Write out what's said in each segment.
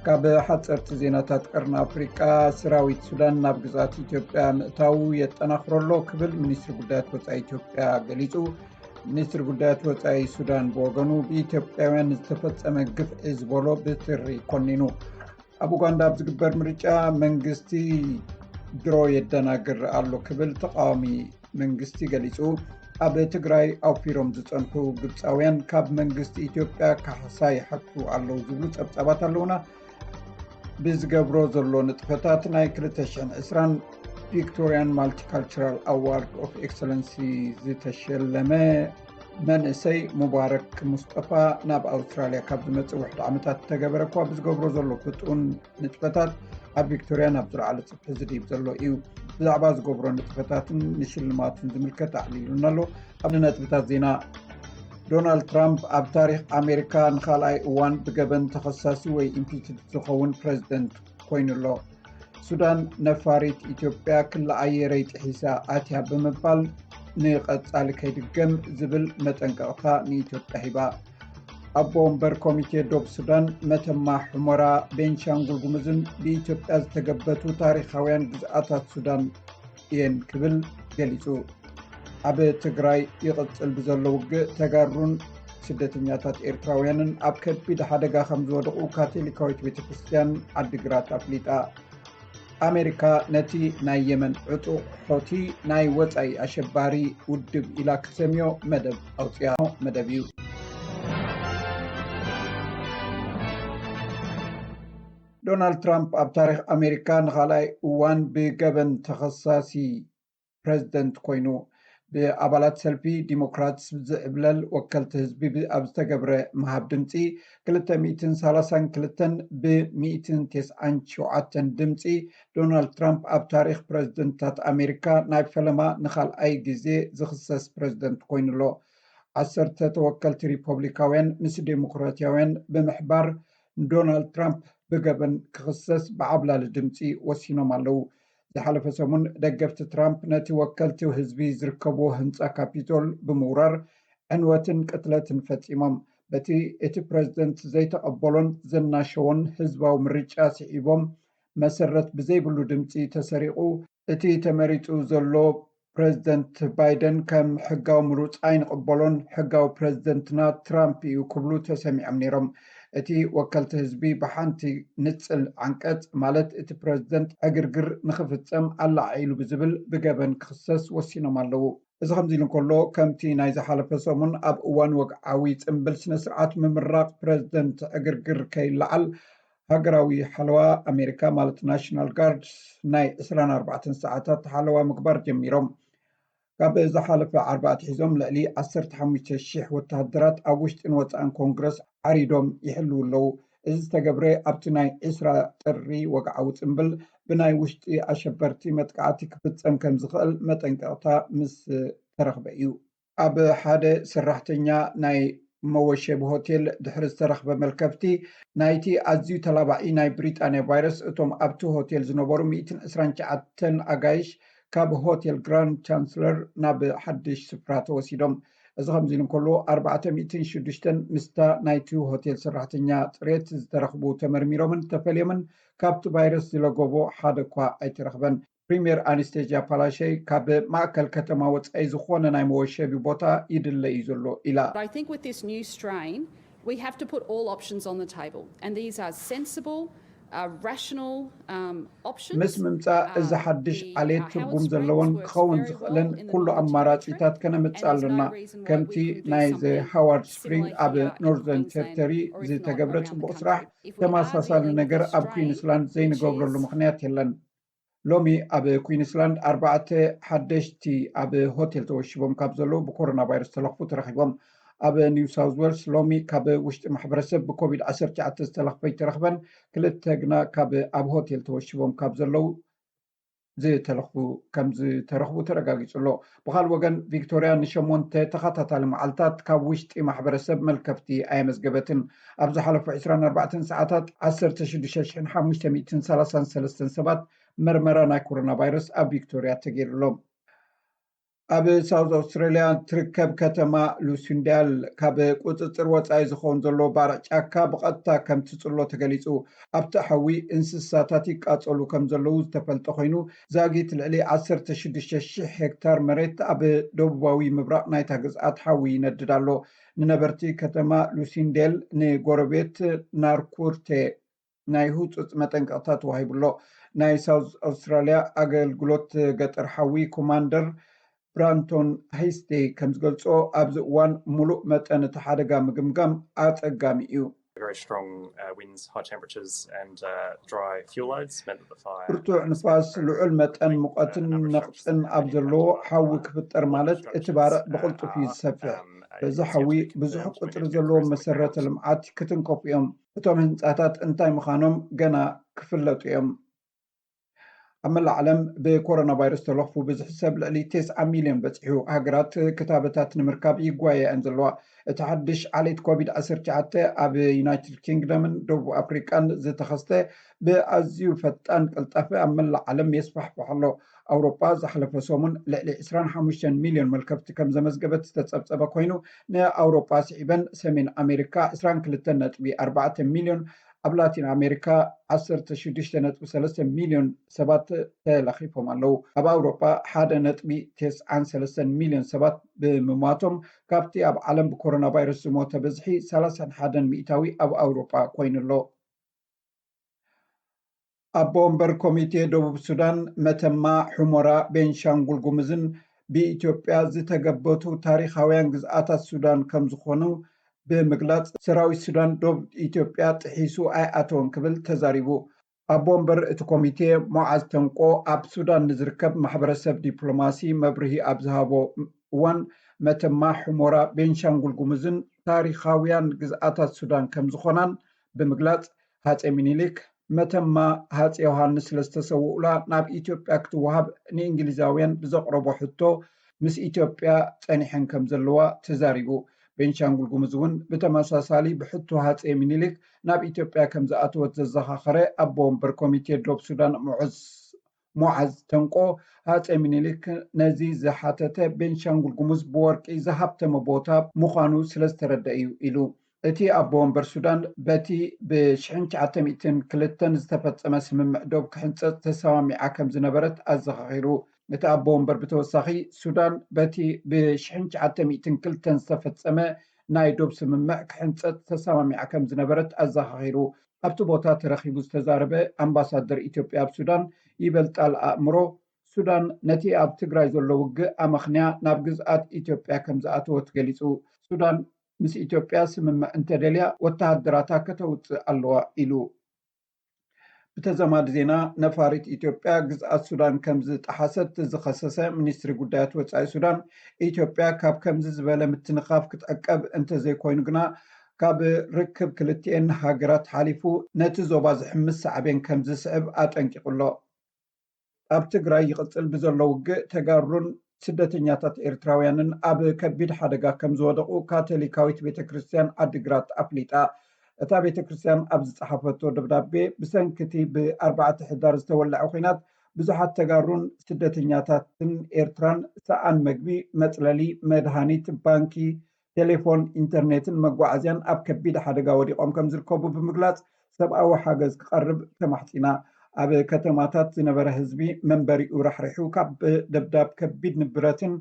ካብ ሓፀርቲ ዜናታት ቅርኒ ኣፍሪቃ ስራዊት ሱዳን ናብ ግዛት ኢትዮጵያ ምእታው የጠናክረሎ ክብል ሚኒስትሪ ጉዳያት ወፃኢ ኢትዮጵያ ገሊፁ ሚኒስትሪ ጉዳያት ወፃኢ ሱዳን ብወገኑ ብኢትዮጵያውያን ንዝተፈፀመ ግፍዒ ዝበሎ ብትሪ ኮኒኑ ኣብ ኡጋንዳ ኣብ ዝግበር ምርጫ መንግስቲ ድሮ የደናግር ኣሎ ክብል ተቃዋሚ መንግስቲ ገሊፁ ኣብ ትግራይ ኣውፊሮም ዝፀንሑ ግብፃውያን ካብ መንግስቲ ኢትዮጵያ ካሕሳ ይሓቱ ኣለው ዝብሉ ፀብፃባት ኣለውና ብዝገብሮ ዘሎ ንጥፈታት ናይ 220 ቪክቶርያን ማልቲካልቸራል ኣዋርድ ኦፍ ኤክሰለንሲ ዝተሸለመ መንእሰይ ሙባረክ ሙስጠፋ ናብ ኣውስትራልያ ካብ ዝመፅእ ውሕድ ዓመታት ዝተገበረ እኳ ብዝገብሮ ዘሎ ፍጡን ንጥፈታት ኣብ ቪክቶርያ ናብ ዝለዓለ ፅፍሒ ዝድብ ዘሎ እዩ ብዛዕባ ዝገብሮ ንጥፈታትን ንሽልማትን ዝምልከት ኣዕሊሉና ኣሎ ኣብ ነጥብታት ዜና ዶናልድ ትራምፕ ኣብ ታሪክ ኣሜሪካ ንካልኣይ እዋን ብገበን ተኸሳሲ ወይ ኢምፒችድ ዝኸውን ፕረዚደንት ኮይኑ ኣሎ ሱዳን ነፋሪት ኢትዮጵያ ክሊ ኣየረይ ጥሒሳ ኣትያ ብምባል ንቐፃሊ ከይድገም ዝብል መጠንቀቕታ ንኢትዮጵያ ሂባ ኣቦ ወንበር ኮሚቴ ዶብ ሱዳን መተማ ሕሞራ ቤንሻንጉል ጉምዝን ብኢትዮጵያ ዝተገበቱ ታሪካውያን ግዝኣታት ሱዳን እየን ክብል ገሊፁ ኣብ ትግራይ ይቕፅል ብዘሎ ውግእ ተጋሩን ስደተኛታት ኤርትራውያንን ኣብ ከቢድ ሓደጋ ከም ዝወድቑ ካቶሊካዊት ቤተ ክርስትያን ዓዲግራት ኣፍሊጣ ኣሜሪካ ነቲ ናይ የመን ዕጡቕ ሖቲ ናይ ወፃኢ ኣሸባሪ ውድብ ኢላ ክትሰምዮ መደብ ኣውፅያ መደብ እዩ ዶናልድ ትራምፕ ኣብ ታሪኽ ኣሜሪካ ንኻልኣይ እዋን ብገበን ተኸሳሲ ፕረዚደንት ኮይኑ። ብኣባላት ሰልፊ ዲሞክራትስ ዝዕብለል ወከልቲ ህዝቢ ኣብ ዝተገብረ ምሃብ ድምፂ ክልተ ሚእትን ሰላሳን ክልተን ብ ሚእትን ቴስዓን ሸውዓተን ድምፂ ዶናልድ ትራምፕ ኣብ ታሪኽ ፕረዚደንትታት ኣሜሪካ ናይ ፈለማ ንኻልኣይ ግዜ ዝኽሰስ ፕረዚደንት ኮይኑሎ። ዓሰርተ ተወከልቲ ሪፖብሊካውያን ምስ ዴሞክራትያውያን ብምሕባር ንዶናልድ ትራምፕ ብገበን ክኽሰስ ብዓብላሊ ድምፂ ወሲኖም ኣለው። ዝሓለፈ ሰሙን ደገፍቲ ትራምፕ ነቲ ወከልቲ ህዝቢ ዝርከብዎ ህንፃ ካፒቶል ብምውራር ዕንወትን ቅትለትን ፈፂሞም። በቲ እቲ ፕረዚደንት ዘይተቐበሎን ዘናሸዎን ህዝባዊ ምርጫ ስዒቦም መሰረት ብዘይብሉ ድምፂ ተሰሪቑ፣ እቲ ተመሪጹ ዘሎ ፕረዚደንት ባይደን ከም ሕጋዊ ምሩጽ ኣይንቕበሎን፣ ሕጋዊ ፕረዚደንትና ትራምፕ እዩ ክብሉ ተሰሚዖም ነይሮም። እቲ ወከልቲ ህዝቢ ብሓንቲ ንጽል ዓንቀጽ ማለት እቲ ፕረዚደንት ዕግርግር ንኽፍጸም ኣላዓዒሉ ብዝብል ብገበን ክኽሰስ ወሲኖም ኣለዉ። እዚ ከምዚ ኢሉ እንከሎ፣ ከምቲ ናይ ዝሓለፈ ሰሙን ኣብ እዋን ወግዓዊ ጽምብል ስነ-ስርዓት ምምራቕ ፕረዚደንት ዕግርግር ከይለዓል ሃገራዊ ሓለዋ ኣሜሪካ ማለት ናሽናል ጋርድስ ናይ ዕስራን ኣርባዕተን ሰዓታት ሓለዋ ምግባር ጀሚሮም። ካብ ዝሓለፈ ዓርቢ ኣትሒዞም ልዕሊ ዓሰርተ ሓሙሽተ ሽሕ ወተሃደራት ኣብ ውሽጥን ወጻእን ኮንግረስ ዓሪዶም ይሕልዉ ኣለዉ። እዚ ዝተገብረ ኣብቲ ናይ ዕስራ ጥሪ ወግዓዊ ጽምብል ብናይ ውሽጢ ኣሸበርቲ መጥቃዕቲ ክፍጸም ከምዝኽእል መጠንቀቕታ ምስ ተረኽበ እዩ። ኣብ ሓደ ሰራሕተኛ ናይ መወሸቢ ሆቴል ድሕሪ ዝተረኽበ መልከፍቲ ናይቲ ኣዝዩ ተላባዒ ናይ ብሪጣንያ ቫይረስ እቶም ኣብቲ ሆቴል ዝነበሩ ሚእትን ዕስራን ትሽዓተን ኣጋይሽ ካብ ሆቴል ግራንድ ቻንስለር ናብ ሓድሽ ስፍራ ተወሲዶም። እዚ ከምዚ ኢሉ እንከሎ ኣርባዕተ ሚእትን ሽዱሽተን ምስታ ናይቲ ሆቴል ሰራሕተኛ ጽሬት ዝተረኽቡ ተመርሚሮምን ተፈልዮምን ካብቲ ቫይረስ ዝለገቦ ሓደ'ኳ ኣይተረኽበን። ፕሪምየር ኣንስቴዥያ ፓላሸይ ካብ ማእከል ከተማ ወጻኢ ዝኾነ ናይ መወሸቢ ቦታ ይድለ እዩ ዘሎ ኢላ። ምስ ምምጻእ እዚ ሓድሽ ዓሌት ትርጉም ዘለዎን ክኸውን ዝኽእልን ኩሉ ኣማራጺታት ከነምጽእ ኣሎና፣ ከምቲ ናይ ዘ ሃዋርድ ስፕሪንግ ኣብ ኖርዘርን ቴሪተሪ ዝተገብረ ጽቡቕ ስራሕ ተመሳሳሊ ነገር ኣብ ኩዊንስላንድ ዘይንገብረሉ ምኽንያት የለን። ሎሚ ኣብ ኩዊንስላንድ ኣርባዕተ ሓደሽቲ ኣብ ሆቴል ተወሺቦም ካብ ዘለዉ ብኮሮና ቫይረስ ዝተለኽፉ ተረኺቦም። ኣብ ኒው ሳውዝ ዌልስ ሎሚ ካብ ውሽጢ ማሕበረሰብ ብኮቪድ ዓሰርተ ትሽዓተ ዝተለኽፈ ኣይተረኽበን፣ ክልተ ግና ካብ ኣብ ሆቴል ተወሺቦም ካብ ዘለዉ ዝተለኽፉ ከምዝተረኽቡ ተረጋጊፁ ኣሎ። ብኻልእ ወገን ቪክቶርያ ንሸሞንተ ተኸታታሊ መዓልታት ካብ ውሽጢ ማሕበረሰብ መልከፍቲ ኣየመዝገበትን። ኣብ ዝሓለፉ ዕስራን ኣርባዕተን ሰዓታት ዓሰርተ ሽዱሽተ ሽሕን ሓሙሽተ ሚእትን ሰላሳን ሰለስተን ሰባት መርመራ ናይ ኮሮናቫይረስ ኣብ ቪክቶርያ ተገይርሎም። ኣብ ሳውዝ ኣውስትራልያ እትርከብ ከተማ ሉሲንዳል ካብ ቁፅፅር ወፃኢ ዝኸውን ዘሎ ባርዕ ጫካ ብቐጥታ ከምትፅሎ ተገሊፁ። ኣብቲ ሓዊ እንስሳታት ይቃፀሉ ከምዘለዉ ዝተፈልጠ ኮይኑ ዛጊት ልዕሊ ዓሰርተ ሽዱሽተ ሽሕ ሄክታር መሬት ኣብ ደቡባዊ ምብራቕ ናይታ ግዝኣት ሓዊ ይነድድ ኣሎ። ንነበርቲ ከተማ ሉሲንዴል ንጎረቤት ናርኩርቴ ናይ ህጹጽ መጠንቀቕታ ተዋሂቡ'ሎ። ናይ ሳውዝ ኣውስትራልያ ኣገልግሎት ገጠር ሓዊ ኮማንደር ብራንቶን ሃይስቴይ ከምዝገልጾ፣ ኣብዚ እዋን ምሉእ መጠን እቲ ሓደጋ ምግምጋም ኣጸጋሚ እዩ። ብርቱዕ ንፋስ፣ ልዑል መጠን ሙቐትን ነቕጽን ኣብ ዘለዎ ሓዊ ክፍጠር ማለት እቲ ባርዕ ብቕልጡፍ እዩ ዝሰፍሕ። በዚ ሓዊ ብዙሕ ቁጽሪ ዘለዎም መሰረተ ልምዓት ክትንከፉ እዮም። እቶም ህንጻታት እንታይ ምዃኖም ገና ክፍለጡ እዮም። ኣብ መላእ ዓለም ብኮሮና ቫይረስ ተለኽፉ ብዝሒ ሰብ ልዕሊ ቴስዓ ሚልዮን በፂሑ። ሃገራት ክታበታት ንምርካብ ይጓየያ እየን ዘለዋ። እቲ ሓድሽ ዓሌት ኮቪድ ዓሰርተ ትሽዓተ ኣብ ዩናይትድ ኪንግደምን ደቡብ ኣፍሪቃን ዝተኸስተ ብኣዝዩ ፈጣን ቅልጣፈ ኣብ መላእ ዓለም የስፋሕፍሕ ኣሎ። ኣውሮጳ ዝሓለፈ ሰሙን ልዕሊ ዕስራን ሓሙሽተን ሚልዮን መልከፍቲ ከም ዘመዝገበት ዝተፀብፀበ ኮይኑ ንኣውሮጳ ስዒበን ሰሜን ኣሜሪካ ዕስራን ክልተን ነጥቢ ኣርባዕተ ሚልዮን ኣብ ላቲን ኣሜሪካ ዓሰርተ ሽዱሽተ ነጥቢ ሰለስተ ሚልዮን ሰባት ተለኺፎም ኣለዉ። ኣብ ኣውሮጳ ሓደ ነጥቢ ተስዓን ሰለስተን ሚልዮን ሰባት ብምሟቶም ካብቲ ኣብ ዓለም ብኮሮናቫይረስ ዝሞተ ብዝሒ ሰላሳን ሓደን ሚእታዊ ኣብ ኣውሮጳ ኮይኑ ኣሎ። ኣቦ ወንበር ኮሚቴ ደቡብ ሱዳን፣ መተማ፣ ሑመራ፣ ቤንሻንጉል ጉሙዝን ብኢትዮጵያ ዝተገበቱ ታሪኻውያን ግዝኣታት ሱዳን ከምዝኾኑ ብምግላፅ ሰራዊት ሱዳን ዶብ ኢትዮጵያ ጥሒሱ ኣይኣተወን ክብል ተዛሪቡ። ኣቦ ወንበር እቲ ኮሚቴ ሙዓዝ ተንቆ ኣብ ሱዳን ንዝርከብ ማሕበረሰብ ዲፕሎማሲ መብርሂ ኣብ ዝሃቦ እዋን መተማ፣ ሑመራ፣ ቤንሻንጉል ጉሙዝን ታሪኻውያን ግዝኣታት ሱዳን ከምዝኾናን ብምግላፅ ሃፀይ ሚኒሊክ መተማ ሃፀይ ዮሃንስ ስለዝተሰውኡላ ናብ ኢትዮጵያ ክትወሃብ ንእንግሊዛውያን ብዘቕረቦ ሕቶ ምስ ኢትዮጵያ ፀኒሐን ከምዘለዋ ተዛሪቡ። ቤንሻንጉል ጉሙዝ እውን ብተመሳሳሊ ብሕቶ ሃፀይ ሚኒሊክ ናብ ኢትዮጵያ ከምዝኣተወት ዘዘኻኸረ ኣቦ ወንበር ኮሚቴ ዶብ ሱዳን ሙዑዝ ሙዓዝ ተንቆ፣ ሃፀይ ሚኒሊክ ነዚ ዝሓተተ ቤንሻንጉል ጉሙዝ ብወርቂ ዝሃብተመ ቦታ ምዃኑ ስለዝተረደኣ እዩ ኢሉ። እቲ ኣቦ ወንበር ሱዳን በቲ ብ ሽሕን ትሽዓተ ሚእትን ክልተን ዝተፈፀመ ስምምዕ ዶብ ክሕንፀፅ ተሰማሚዓ ከምዝነበረት ኣዘኻኺሩ። እቲ ኣቦ ወንበር ብተወሳኺ ሱዳን በቲ ብ ሽሕን ትሽዓተ ሚእትን ክልተን ዝተፈፀመ ናይ ዶብ ስምምዕ ክሕንፀፅ ተሰማሚዓ ከምዝነበረት ኣዘኻኺሩ። ኣብቲ ቦታ ተረኺቡ ዝተዛረበ ኣምባሳደር ኢትዮጵያ ኣብ ሱዳን ይበልጣል ኣእምሮ፣ ሱዳን ነቲ ኣብ ትግራይ ዘሎ ውግእ ኣመኽንያ ናብ ግዝኣት ኢትዮጵያ ከምዝኣተወት ገሊጹ። ሱዳን ምስ ኢትዮጵያ ስምምዕ እንተደልያ ወተሃደራታ ከተውጽእ ኣለዋ ኢሉ። ብተዛማዲ ዜና ነፋሪት ኢትዮጵያ ግዝኣት ሱዳን ከምዝጠሓሰት ዝኸሰሰ ሚኒስትሪ ጉዳያት ወጻኢ ሱዳን፣ ኢትዮጵያ ካብ ከምዚ ዝበለ ምትንኻፍ ክትዕቀብ እንተዘይኮይኑ ግና ካብ ርክብ ክልቲኤን ሃገራት ሓሊፉ ነቲ ዞባ ዝሕምስ ሳዕቤን ከምዝስዕብ ኣጠንቂቑ ኣሎ። ኣብ ትግራይ ይቕጽል ብዘሎ ውግእ ተጋሩን ስደተኛታት ኤርትራውያንን ኣብ ከቢድ ሓደጋ ከምዝወደቑ ካቶሊካዊት ቤተ ክርስትያን ዓዲግራት ኣፍሊጣ። እታ ቤተ ክርስትያን ኣብ ዝጸሓፈቶ ደብዳቤ ብሰንኪ'ቲ ብ ኣርባዕተ ሕዳር ዝተወልዐ ኲናት ብዙሓት ተጋሩን ስደተኛታትን ኤርትራን ሰኣን መግቢ፣ መጽለሊ፣ መድሃኒት፣ ባንኪ፣ ቴሌፎን፣ ኢንተርኔትን መጓዓዝያን ኣብ ከቢድ ሓደጋ ወዲቖም ከምዝርከቡ ብምግላፅ ሰብኣዊ ሓገዝ ክቐርብ ተማሕፂና። ኣብ ከተማታት ዝነበረ ህዝቢ መንበሪኡ ራሕሪሑ ካብ ደብዳብ ከቢድ ንብረትን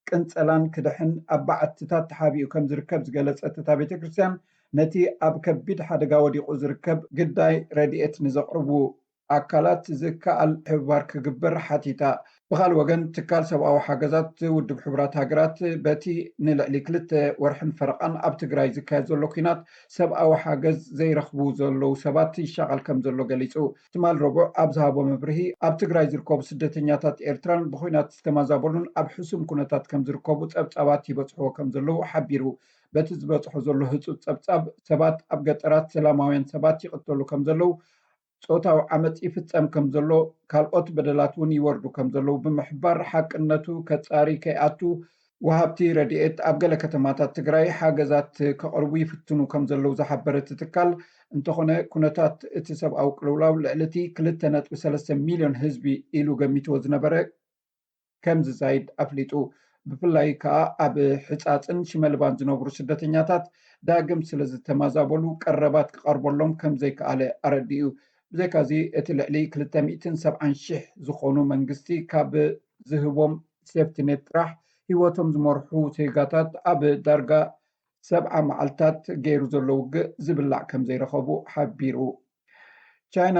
ቅንፀላን ክድሕን ኣብ በዓትታት ተሓቢኡ ከምዝርከብ ዝገለፀት እታ ቤተክርስትያን ነቲ ኣብ ከቢድ ሓደጋ ወዲቑ ዝርከብ ግዳይ ረድኤት ንዘቕርቡ ኣካላት ዝከኣል ሕብባር ክግበር ሓቲታ። ብኻልእ ወገን ትካል ሰብኣዊ ሓገዛት ውድብ ሕቡራት ሃገራት በቲ ንልዕሊ ክልተ ወርሕን ፈረቓን ኣብ ትግራይ ዝካየድ ዘሎ ኲናት ሰብኣዊ ሓገዝ ዘይረኽቡ ዘለዉ ሰባት ይሻቐል ከምዘሎ ገሊጹ ትማል ረቡዕ ኣብ ዝሃቦ መብርሂ ኣብ ትግራይ ዝርከቡ ስደተኛታት ኤርትራን ብዂናት ዝተማዛበሉን ኣብ ሕሱም ኩነታት ከምዝርከቡ ጸብጻባት ይበጽሕዎ ከምዘለዉ ሓቢሩ በቲ ዝበጽሖ ዘሎ ህጹጽ ጸብጻብ ሰባት ኣብ ገጠራት ሰላማውያን ሰባት ይቕተሉ ከምዘለዉ ፆታዊ ዓመፅ ይፍፀም ከምዘሎ፣ ካልኦት በደላት እውን ይወርዱ ከምዘለዉ ብምሕባር፣ ሓቅነቱ ከፃሪ ከይኣቱ ወሃብቲ ረድኤት ኣብ ገለ ከተማታት ትግራይ ሓገዛት ከቕርቡ ይፍትኑ ከምዘለዉ ዝሓበረ እቲ ትካል፣ እንተኾነ ኩነታት እቲ ሰብኣዊ ቅልውላው ልዕሊ እቲ ክልተ ነጥቢ ሰለስተ ሚልዮን ህዝቢ ኢሉ ገሚትዎ ዝነበረ፣ ከም ዝዛይድ ኣፍሊጡ። ብፍላይ ከኣ ኣብ ሕጻጽን ሽመልባን ዝነብሩ ስደተኛታት ዳግም ስለ ዝተማዛበሉ ቀረባት ክቐርበሎም ከም ዘይከኣለ ኣረዲኡ። ብዘይካዚ እቲ ልዕሊ ክልተ ሚእትን ሰብዓን ሽሕ ዝኾኑ መንግስቲ ካብ ዝህቦም ሴፍቲኔት ጥራሕ ህይወቶም ዝመርሑ ዜጋታት ኣብ ዳርጋ ሰብዓ መዓልታት ገይሩ ዘሎ ውግእ ዝብላዕ ከም ዘይረኸቡ ሓቢሩ። ቻይና